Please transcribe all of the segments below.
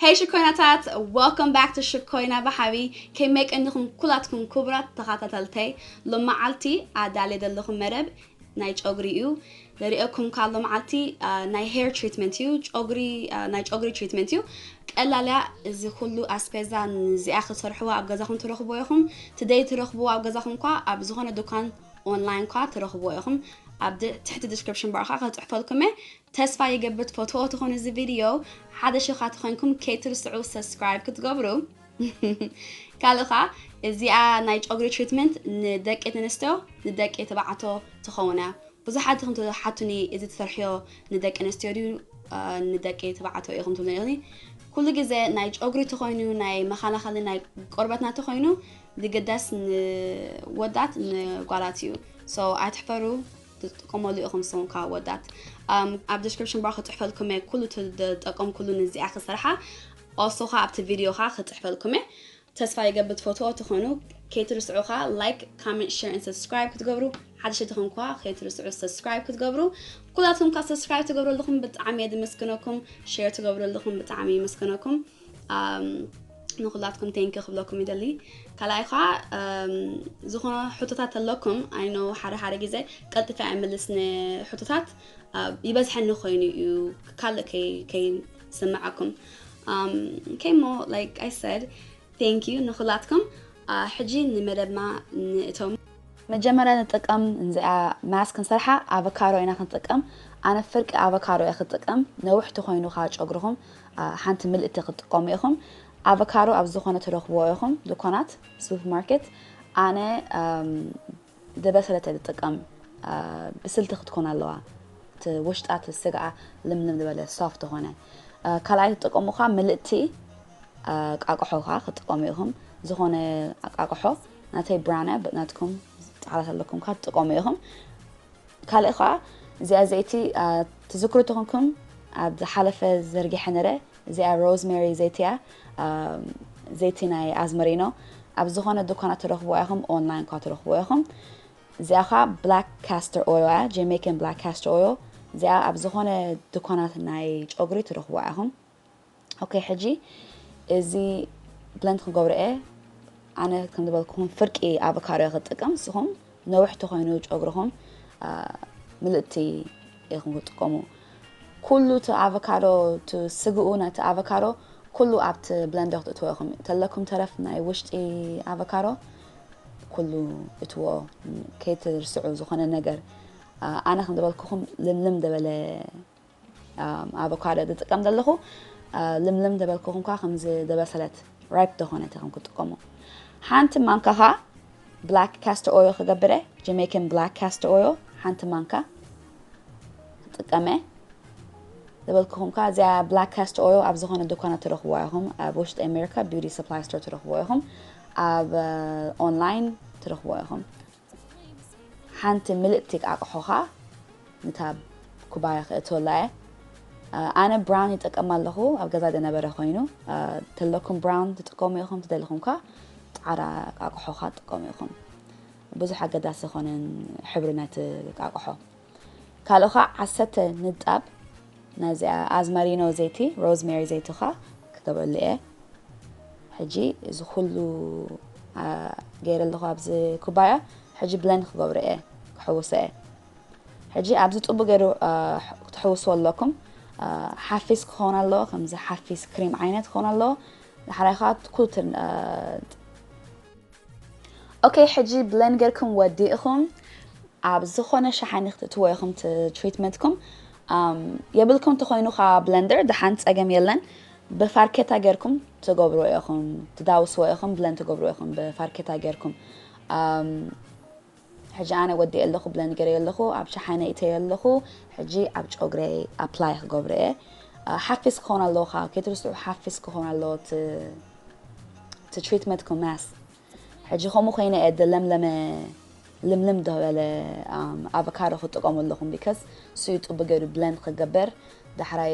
ሄይ ሽኮይናታት ወልካም ባክ ቱ ሽኮይና ብሓቢ ከመይ ቀኒኹም ኩላትኩም ክቡራት ተኸታተልተይ ሎመዓልቲ ኣዳልየ ዘለኹ መደብ ናይ ጨጉሪ እዩ ዘሪኦኩም ካብ ሎመዓልቲ ናይ ሄር ትሪትመንት እዩ ጨጉሪ ናይ ጨጉሪ ትሪትመንት እዩ ቀላልያ እዚ ኩሉ ኣስፔዛ ንዚኣ ክትሰርሕዎ ኣብ ገዛኹም ትረኽቦ ኢኹም ትደይ ትረኽብዎ ኣብ ገዛኹም ኳ ኣብ ዝኾነ ዱካን ኦንላይን ኳ ትረኽብዎ ኢኹም ኣብ ትሕቲ ዲስክሪፕሽን ባር ከዓ ከፅሕፈልኩም እየ ተስፋ ይገብር ትፈትዎ ትኾኑ እዚ ቪድዮ ሓደሽ እኻ ተኾይንኩም ከይትርስዑ ሰብስክራይብ ክትገብሩ ካልእ ኸዓ እዚኣ ናይ ጨጉሪ ትሪትመንት ንደቂ ኣንስትዮ ንደቂ ተባዕትዮ ትኸውን እያ ብዙሓት ኢኹም ትሓቱኒ እዚ ትሰርሕዮ ንደቂ ኣንስትዮ ድዩ ንደቂ ተባዕትዮ ኢኹም ትብሉኒ ኩሉ ግዜ ናይ ጨጉሪ ተኾይኑ ናይ መኸላኸሊ ናይ ቆርበትና ተኾይኑ ዝግደስ ንወዳት ንጓላት እዩ ሶ ኣይትሕፈሩ ትጥቀመሉ ኢኹም ንስኹም ከ ኣወዳት ኣብ ዲስክሪፕሽን ባር ክፅሕፈልኩም እየ ኩሉ ትጠቀምኩሉ ንዚኣ ክሰርሓ ኦሶ ከ ኣብቲ ቪድዮ ከ ክፅሕፈልኩም እየ ተስፋ ይገብር ትፈትዎ ትኾኑ ከይትርስዑ ከ ላይክ ካመንት ሸር ን ሰብስክራይብ ክትገብሩ ሓደሽቲ ትኹም ከ ከይትርስዑ ሰብስክራይብ ክትገብሩ ኩላትኩም ከ ሰብስክራይብ ትገብሩ ኣለኹም ብጣዕሚ እየ ድምስግነኩም ሸር ትገብሩ ኣለኹም ብጣዕሚ ይምስግነኩም ንኩላትኩም ቴንኪ ክብለኩም ይደሊ ካልኣይ ከዓ ዝኾነ ሕቶታት ኣለኩም ኣይኖ ሓደ ሓደ ግዜ ቀልጢፈ ኣይምልስ ንሕቶታት ይበዝሐኒ ኮይኑ እዩ ካልእ ከይስምዓኩም ከይሞ ላይክ ኣይ ሰድ ቴንክ ዩ ንኩላትኩም ሕጂ ንመደብና ንእቶም መጀመርያ ንጥቀም እዚኣ ማስ ክንሰርሓ ኣቨካዶ ኢና ክንጥቀም ኣነ ፍርቂ ኣቨካዶ እየ ክጥቀም ነውሕቲ ኮይኑ ከዓ ጨጉርኹም ሓንቲ ምልእቲ ክትጥቀሙ ኢኹም ኣቨካዶ ኣብ ዝኾነ ትረኽብዎ ኢኹም ድኳናት ሱፐር ማርኬት ኣነ ዝበሰለተ ዝጥቀም ብስልቲ ክትኮን ኣለዋ ውሽጣ ስጋኣ ልምልም ዝበለ ሶፍት ዝኾነ ካልኣይ ትጥቀሙ ካ ምልእቲ ቃቅሖ ካ ክትጥቀሙ ኢኹም ዝኾነ ኣቃቅሖ ናተይ ብራነ ናትኩም ጣዕላት ኣለኩም ካ ትጥቀሙ ኢኹም ካልእ ከኣ እዚኣ ዘይቲ ትዝክሩ ተኾንኩም ኣብ ዝሓለፈ ዘርጊሐ ነረ እዚኣ ሮዝሜሪ ዘይቲ እያ ዘይቲ ናይ ኣዝመሪኖ ኣብ ዝኾነ ድኳናት ትረኽብዋ ኢኹም ኦንላይን ኳ ትረኽብዎ ኢኹም እዚኣ ኸዓ ብላክ ካስተር ኦዮ እያ ጀሜካን ብላክ ካስተር ኦዮ እዚኣ ኣብ ዝኾነ ድኳናት ናይ ጨጉሪ ትረኽብዋ ኢኹም ኦኬ ሕጂ እዚ ብለንድ ክገብሮ እየ ኣነ ከም ዝበልኩኹም ፍርቂ ኣቮካዶ ክጥቀም ንስኹም ነዊሕ ተኮይኑ ጨጉርኹም ምልእቲ ኢኹም ክጥቀሙ ኩሉ እቲ ኣቮካዶ ስግኡ ነቲ ኣቮካዶ ኩሉ ኣብቲ ብለንደ ክትእትዎ ኢኹም ተለኩም ተረፍ ናይ ውሽጢ ኣቮካዶ ኩሉ እትዎ ከይትርስዑ ዝኾነ ነገር ኣነ ከም ዝበልኩኹም ልምልም ደበለ ኣቮካዶ ዝጥቀም ዘለኹ ልምልም ዝበልኩኹምካ ከምዚ ዝበሰለት ራይፕ ዝኾነት ከም ክጥቀሙ ሓንቲ ማንካ ኸዓ ብላክ ካስተ ኦዮ ክገብረ ጀሜይካን ብላክ ካስተ ኦዮ ሓንቲ ማንካ ክጥቀመ ዝበልኩኹምካ እዚኣ ብላክ ካስተ ኦዮ ኣብ ዝኾነ ድኳናት ትረኽብዋ ኢኹም ኣብ ውሽጢ ኣሜሪካ ቢዩቲ ሰፕላይ ስቶር ትረኽብዎ ኢኹም ኣብ ኦንላይን ትረኽብዎ ኢኹም ሓንቲ ምልእቲ ኣቕሖ ኸኣ ነታ ኩባያ ክእትወላ እየ። ኣነ ብራውን ይጠቀም ኣለኹ ኣብ ገዛ ደነበረ ኮይኑ ተለኩም ብራውን ትጥቀሙ ኢኹም ትደልኹም ከ ጻዕራ ኣቕሖ ኸኣ ትጥቀሙ ኢኹም። ብዙሕ ኣገዳሲ ኾነን ሕብሪ ናይቲ ኣቕሖ። ካልእ ከኣ ዓሰርተ ንጣብ ናዚኣ ኣዝማሪኖ ዘይቲ ሮዝሜሪ ዘይቲ ከኣ ክገብረሉ እየ ሕጂ እዚ ኩሉ ገይረ ኣለኹ ኣብዚ ኩባያ ሕጂ ብለን ክገብሮ እየ ክሕውሶ እየ ሕጂ ኣብዚ ጥቡ ገይሩ ክትሕውስዎ ኣለኩም ሓፊስ ክኸውን ኣለዎ ከምዚ ሓፊስ ክሪም ዓይነት ክኸውን ኣለዎ ንሓራይ ከዓ ኩሉ ኦከይ ሕጂ ብሌን ጌርኩም ወዲእኹም ኣብ ዝኾነ ሸሓኒ ክትእትዎ ኢኹም ትሪትመንትኩም የብልኩም ተኾይኑ ኸዓ ብለንደር ደሓን ፀገም የለን ብፋርኬታ ጌርኩም ትገብሩ ኢኹም ትዳውስዎ ኢኹም ብለን ትገብሩ ኢኹም ብፋርኬታ ጌርኩም ሕጂ ኣነ ወዲኤ ኣለኩ ብለን ገረዮ ኣለኩ ኣብ ሸሓነ ኢተዮ ኣለኩ ሕጂ ኣብ ጮግረይ ኣፕላይ ክገብሮ እየ ሓፊስ ክኮን ኣለዎ ካኣ ከይትርስዑ ሓፊስ ክኮን ኣለዎ እቲ እቲ ትሪትመንት ኮማስ ሕጂ ከምኡ ኮይነ እየ ደለምለመ ልምልም ደበለ ኣቨካዶ ክጥቀሙ ኣለኩም ቢከስ ስዩ ጥቡ ገይሩ ብለን ክገበር ዳሕራይ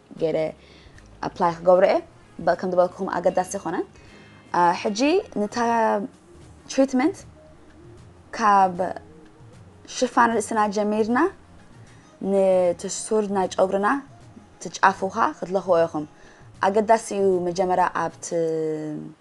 ገይረ ኣፕላይ ክገብሮ እየ በ- ከም ዝበልኩም ኣገዳሲ ኮነ አ፣ ሕጂ ንታ ትሪትመንት ካብ ሽፋን ርእስና ጀሚርና ነቲ ሱር ናይ ጨጉርና እቲ ጫፉ ኸኣ ክትለኽዎ ኢኹም ኣገዳሲ እዩ መጀመርያ ኣብቲ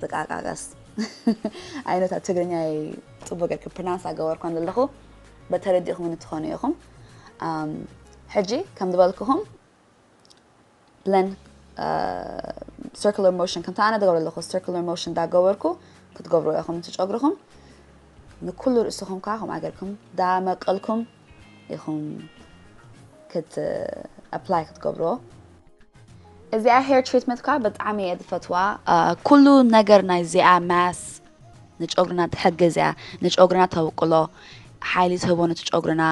ጥቃቃቀስ ኣይነታ ትግርኛይ ፅቡቅ ጌርክ ፕርናንስ ኣገበርኳ ዘለኹ በተረዲእኹምኒ ትኾኑ ኢኹም ሕጂ ከም ዝበልክኹም ብለን ሰርኩላር ሞሽን ከምቲ ኣነ ዝገብሮ ኣለኹ ሰርኩላር ሞሽን እንዳገበርኩ ክትገብሩ ኢኹም እቲ ጨጉርኹም ንኩሉ ርእስኹም ከዓ ከምኣ ጌርኩም ዳመቀልኩም ኢኹም ክት ኣፕላይ ክትገብርዎ። እዚኣ ሄር ትሪትመንት ከዓ ብጣዕሚ እየ ዝፈትዋ ኩሉ ነገር ናይ እዚኣ ማስ ንጨጉርና ትሕግዝ እያ ንጨጉርና ተውቅሎ ሓይሊ ትህቦ ነቲ ጨጉርና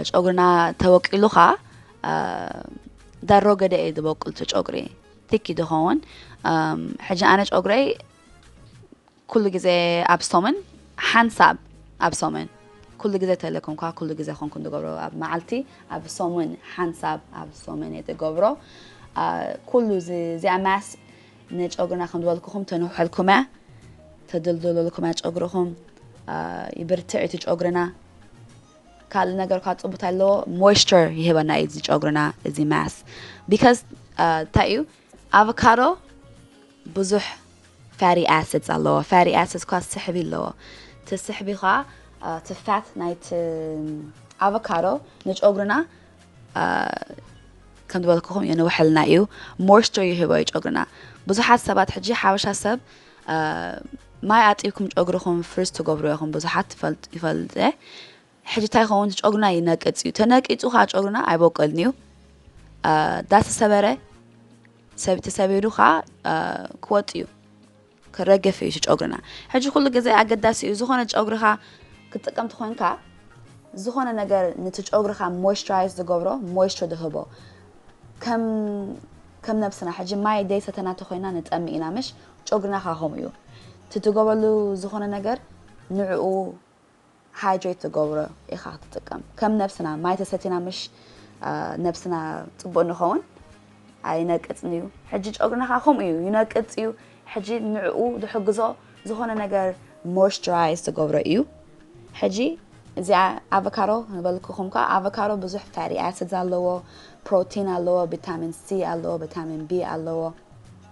ጨጉርና ተወቂሉ ከዓ ዳሮ ገደ እዩ ዝበቁል እቲ ጨጉሪ ቲኪ ዝኸውን ሕጂ ኣነ ጨጉረይ ኩሉ ግዜ ኣብ ሰሙን ሓንሳብ ኣብ ሰሙን ኩሉ ግዜ ተለኩምኳ ኩሉ ግዜ ኮንኩ ዝገብሮ ኣብ መዓልቲ ኣብ ሰሙን ሓንሳብ ኣብ ሰሙን እየ ዝገብሮ ኩሉ እዚኣ ማስ ንጨጉርና ከም ዝበልኩኹም ተንውሐልኩም እያ ተድልድለልኩም እያ ጨጉርኹም ይብርትዕ እቲ ጨጉርና ካልእ ነገር ኳ ፅቡት ኣለዎ ሞይስቸር ይህበና እዩ እዚ ጨጉርና እዚ ማስ ቢካዝ እንታይ እዩ ኣቮካዶ ብዙሕ ፋቲ ኣሲድስ ኣለዎ ፋቲ ኣሲድስ ኳ ስሕቢ ኣለዎ እቲ ስሕቢ ኳ እቲ ፋት ናይቲ ኣቮካዶ ንጨጉርና ከም ዝበልኩኹም የንውሐልና እዩ ሞይስቸር ይህቦ እዩ ጨጉርና ብዙሓት ሰባት ሕጂ ሓበሻ ሰብ ማይ ኣጢብኩም ጨጉርኹም ፍርስ ትገብሩ ኢኹም ብዙሓት ይፈልጥ ይፈልጥ ሕጂ ታይ ይኸውን እቲ ጨጉርና ይነቅጽ እዩ ተነቂጹ ከዓ ጨጉርና ኣይቦቀልን እዩ ዳተሰበረ ተሰቢሩ ከዓ ክወጥ እዩ ክረገፍ እዩ ጨጉርና ሕጂ ኩሉ ግዜ ኣገዳሲ እዩ ዝኾነ ጨጉርኻ ክትጥቀም ትኾንካ ዝኾነ ነገር ነቲ ጨጉርኻ ሞይስቸራይዝ ዝገብሮ ሞይስቸር ዝህቦ ከም ከም ነብስና ሕጂ ማይ ደይ ሰተና ተኮይና ንጠሚ ኢና ምሽ ጨጉርና ካ ከምኡ እዩ ትትገበሉ ዝኾነ ነገር ንዕኡ ሃይድሬት ትገብሮ ኢኻ ክትጥቀም ከም ነብስና ማይ ተሰቲና ምሽ ነብስና ፅቡቅ ንኸውን ኣይነቅፅን እዩ ሕጂ ጨጉርና ከዓ ከምኡ እዩ ይነቅፅ እዩ ሕጂ ንዕኡ ዝሕግዞ ዝኾነ ነገር ሞይስቸራይዝ ትገብሮ እዩ ሕጂ እዚኣ ኣቮካዶ ንበልክኹም ከዓ ኣቮካዶ ብዙሕ ፋቲ ኣሲድስ ኣለዎ ፕሮቲን ኣለዎ ቪታሚን ሲ ኣለዎ ቪታሚን ቢ ኣለዎ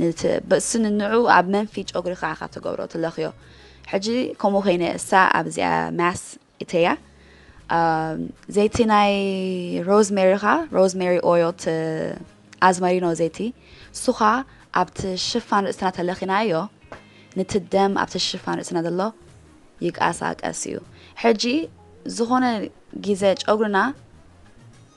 ንቲ ብእሲ ንንዑ ኣብ መንፊ ጨጉሪ ከኣ ካብ ተገብሮ ትለኽዮ ሕጂ ከምኡ ኮይነ እሳ ኣብ እዚኣ ማስ እተያ ዘይቲ ናይ ሮዝሜሪ ከኣ ሮዝሜሪ ኦይል ት ኣዝመሪኖ ዘይቲ ሱኻ ኣብቲ ሽፋን ርእስና ተለኺናዮ ንቲ ደም ኣብቲ ሽፋን ርእስና ዘሎ ይቃሳቀስ እዩ ሕጂ ዝኾነ ጊዘ ጨጉርና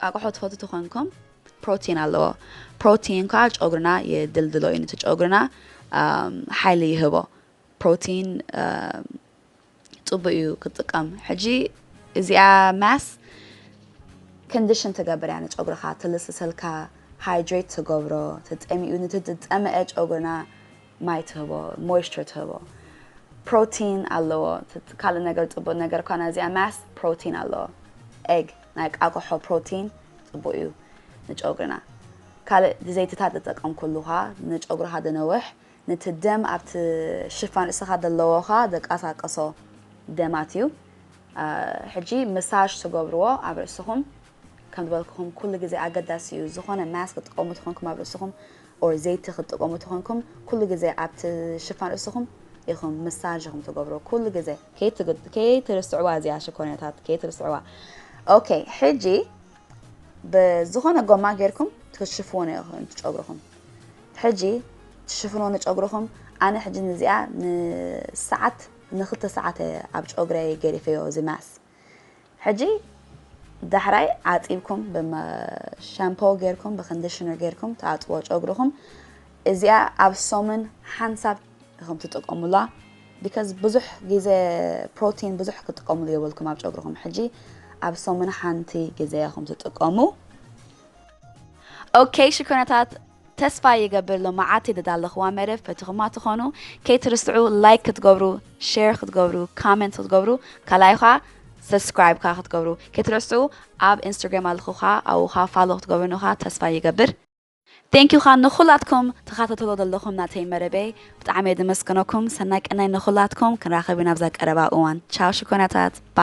ቃቅሖ ትፈትው ተኮንኩም ፕሮቲን ኣለዎ ፕሮቲን ካኣ ጨጉርና የድልድሎ እዩ ንቲ ጨጉርና ሓይሊ ይህቦ ፕሮቲን ጽቡቅ እዩ ክትጥቀም ሕጂ እዚኣ ማስ ኮንዲሽን ትገብር እያ ንጨጉርካ ትልስሰልካ ሃይድሬት ትገብሮ ተጠሚኡ ንቲ ዝጠመአ ጨጉርና ማይ ትህቦ ሞይስቸር ትህቦ ፕሮቲን ኣለዎ ካልእ ነገር ጽቡቅ ነገር ኳና እዚኣ ማስ ፕሮቲን ኣለዎ ኤግ ናይ ቃቅሖ ፕሮቲን ጽቡቅ እዩ ንጨጉሪና። ካልእ ብዘይትታት ዝጠቀምኩሉ ከኣ ንጨጉርካ ዘንውሕ ንቲ ደም ኣብቲ ሽፋን ርእስካ ዘለዎ ከኣ ዘቃሳቅሶ ደማት እዩ። ሕጂ መሳጅ ትገብርዎ ኣብ ርእስኩም ከም ዝበልኩኩም ኩሉ ግዜ ኣገዳሲ እዩ ዝኮነ ማስክ ክትጥቀሙ ተኮንኩም ኣብ ርእስኩም or ዘይቲ ክትጥቀሙ ተኮንኩም ኩሉ ግዜ ኣብቲ ሽፋን ርእስኹም ኢኹም ምሳጅ ኢኹም ትገብሩ ኩሉ ግዜ። ከይትርስዕዋ እዚኣ ሽኮርኛታት ከይትርስዕዋ ok ሕጂ ብዝኾነ ጎማ ጌርኩም ትሽፍውኖ ኢኹም ጨጉርኹም ሕጂ ትሽፍንዎ ንጨጉርኹም ኣነ ሕጂ ንዚኣ ንሰዓት ንክልተ ሰዓት ኣብ ጨጉረይ ገዲፈዮ እዚ ማስ ሕጂ ዳሕራይ ዓጺብኩም ብመ ሻምፖ ጌርኩም ብኮንዲሽነር ጌርኩም ትኣጽዎ ጨጉርኹም እዚኣ ኣብ ሰሙን ሓንሳብ ኢኹም ትጥቀሙላ ቢካዝ ብዙሕ ግዜ ፕሮቲን ብዙሕ ክትጥቀሙሉ የብልኩም ኣብ ጨጉርኹም ሕጂ ኣብ ሰሙን ሓንቲ ግዜ ኢኹም ትጥቀሙ ኦኬ ሽኮናታት ተስፋ ይገብር ሎማዓቲ ድዳለኽዋ መደብ ፈቲኹማ ትኾኑ ከይትርስዑ ላይክ ክትገብሩ ሸር ክትገብሩ ካመንት ክትገብሩ ካልኣይ ኻኣ ሰብስክራይብ ካኣ ክትገብሩ ከይትረስዑ ኣብ እንስትርግራም ኣለኹ ኻኣ ኣብኡ ኻኣ ፋሎ ክትገብሩኒ ኻኣ ተስፋ ይገብር ቴንኪው ኻኣ ንኹላትኩም ትኻታተልዎ ደለኹም ናተይ መደበይ ብጣዕሚ እየ ድመስግነኩም ሰናይ ቀናይ ንኹላትኩም ክንራኸብ ኢና ኣብዛ ቀረባ እዋን ቻው ሽኮርናታት ባይ።